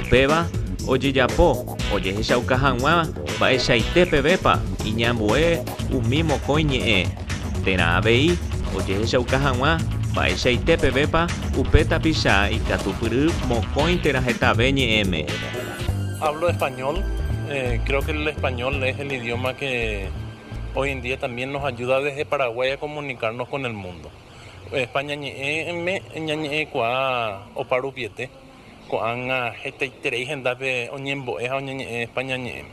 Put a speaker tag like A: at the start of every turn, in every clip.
A: Upéva ojejapo ojehechauka hag̃ua mba'eichaite pevépa iñambue umi mokõi ñe'ẽ, térã avei ojehechauka hag̃ua mba'eichaite pevépa upe tapicha ikatupyry mokõi térã hetave ñe'ẽme. Hablo español, creo que el español es el idioma que hoy en día también nos ayuda desde Paraguay a comunicarnos con el mundo. Opa ñañe'ẽme ñañe'ẽkuaa opa rupiete, ko'ág̃a hetaiterei hendápe oñembo'e ha oñeñe'ẽpa ñañe'ẽme.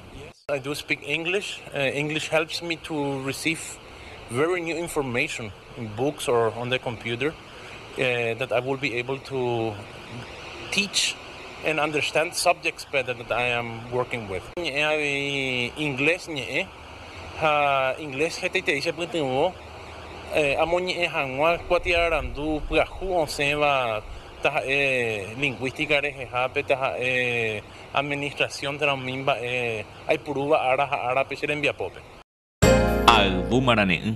A: I do speak English, English helps me to receive very new information in books or on the computer that I will be able to teach and understand subjects better that I am working with. Ñe'ẽ avei inglés ñe'ẽ. ha inglés hetaiterei chepytyvõ amoñe'ẽ hag̃ua kuatiarandu pyahu osẽva taha'e lingvística rehehápe, taha'e administración térã umi mba'e aipurúva ára ha árape che rembiapópe. Ayvu marane'ỹ.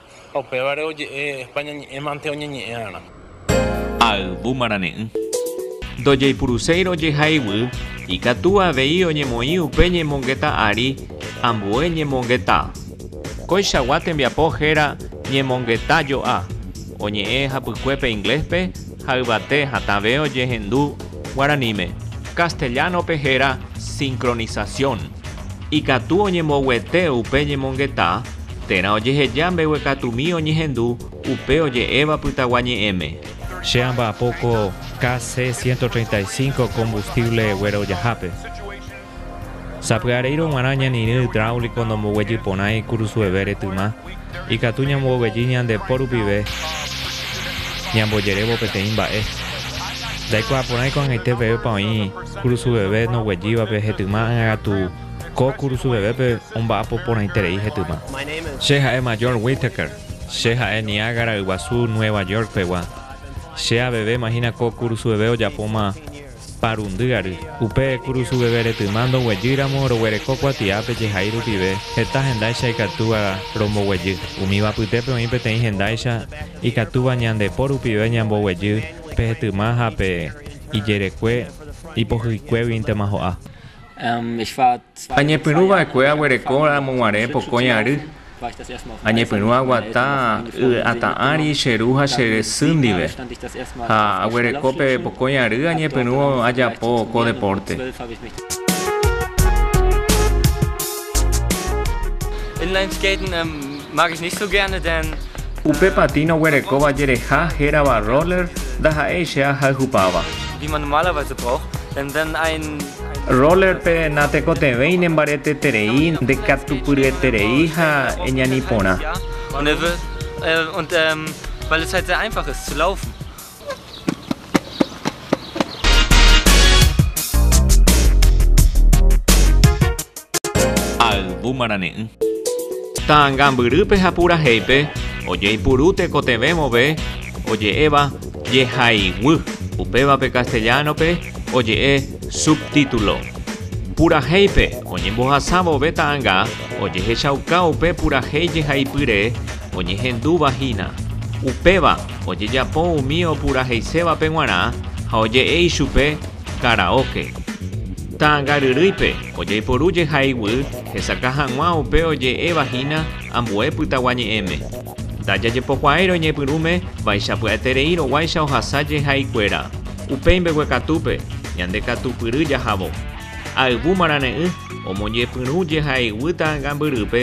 A: Ha upévare oje'e España ñe'ẽ mante oñeñe'ẽ'arã. Ha yvu marane'ỹ. Ndojeipuruséi rojeha iguy, ikatu avei oñemoĩ upe ñemongeta ári ambue ñemongeta. Koichagua tembiapo héra ñemongeta jo'a, oñe'ẽ hapykuépe ingléspe ha yvate hatãve ojehendu guaraníme. Castellano-pe héra sincronización. Ikatu oñemboguete upe ñemongeta térã ojeheja mbeguekatumi oñehendu upe oje'éva Pytagua Ñe'ẽme. Che amba'apo ko KC 135 combustible guerojahápe. Sapy'areírõ g̃uarã ñanirỹ hidráulico ndomboguejy porãi kurusuevére tyma, ikatu ñamboguejy ñande po rupive ñambojerévo peteĩ mba'e. Ndaikuaaporãi ko'ag̃aite pevépa oĩ. Kurusu veve noguejývape hetyma ág̃akatu ko kurusu vevépe omba'apo porãiterei hetyma. Che ha'e Major Whittaker. Che ha'e Niágara Yguasu Nueva York pegua. Che aveve imagina ko kurusu veve ojapóma parundy ary. Upe kurusu veve retyma ndoguejýramo roguereko kuatiápe jehai rupive heta hendáicha ikatúva romboguejy. Umíva apytépe oĩ peteĩ hendáicha ikatúva ñande po rupive ñamboguejy pe hetyma ha pe ijerekue ipohyikuéguintema ho'a. Añepyrũ va'ekue aguereko ramo guare pokõi ary, añepyrũ aguata y atã ári che ru ha che sy ndive, ha aguereko pe pokõi ary añepyrũ ajapo ko depórte. Upe patín oguerekóva jereha hérava roller ndaha'éi che ahayhupáva. Roller-pe natekotevẽi nembareteterei, ndekatupyryeterei ha eñani porã. Ayvu marane'ỹ. Ta'angambyrýpe ha purahéipe ojeipuru tekotevẽ vove oje'éva jehaiguy, upévape castellano-pe oje'e subtítulo. Purahéipe oñembohasa vove ta'anga ojehechauka upe purahéi jehaipyre oñehendúva hína. Upéva ojejapo umi opuraheisévape g̃uarã ha oje'e ichupe karaóke. Ta'ãngaryrýipe ojaiporu jehaiguy hesakã hag̃ua upe oje'éva hína ambue pytaguañe'ẽme. Ndajajepokuaái roiñepyrũme vaichápy'aeterei roguáicha ohasa jehaikuéra. Upéi mbeguekatúpe ñande katupyry jahavo. Ayvu marane'ỹ omoñepyrũ jehaiguy ta'ãngambyrýpe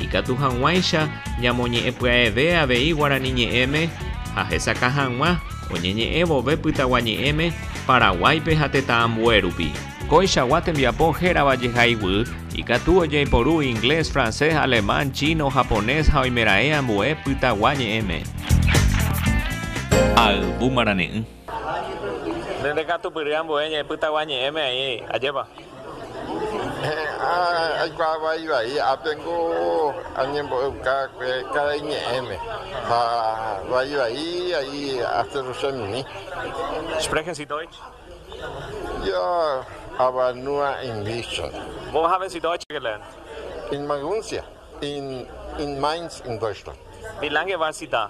A: Ikatu hag̃uáicha ñamoñe'ẽpya'eve avei Guarani Ñe'ẽme ha hesakã hag̃ua oñeñe'ẽ vove Pytagua Ñe'ẽme Paraguáipe ha tetã ambue rupi. Koichagua tembiapo hérava jehaiguy ikatu ojeiporu inglés, francés, alemán, chino, japonés ha oimeraẽ ambue Pytagua Ñe'ẽme. Ayvu marane'ỹ. Nde ndekatupyry ambue ñe'ẽ Pytagua ñe'ẽme aĩ. Ajépa? He'ã aikuaa vaivai ápe niko añembo'euka karai ñe'ẽme ha vaivai aĩ aseru chemimi. Sprechen Sie Deutsch? Jo avanua Inglísgui. Wo haben Sie Deutsch gelernt? In Maguncia, in Mainz, in Deutschland. Wie lange war Sie da?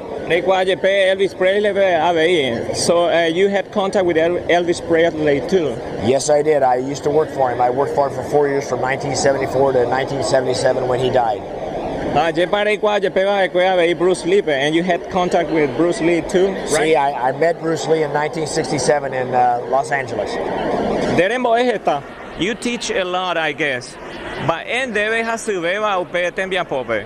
A: Reikuaa jepe Elvis Presleype avei. So you had contact with Elvis Presley too? Yes I did, I used to work for him, I worked for him for four years from 1974 to 1977 when he died. Ha ajépa reikuaa jepe va'ekue avei Bruce Leepe, and you had contact with Bruce Lee too, right? Sí, I, I met Bruce Lee in 1967 in uh, Los Angeles. Nde rembo'e heta. You teach a lot I guess. Mba'e ndéve hasyvéva upe tembiapópe?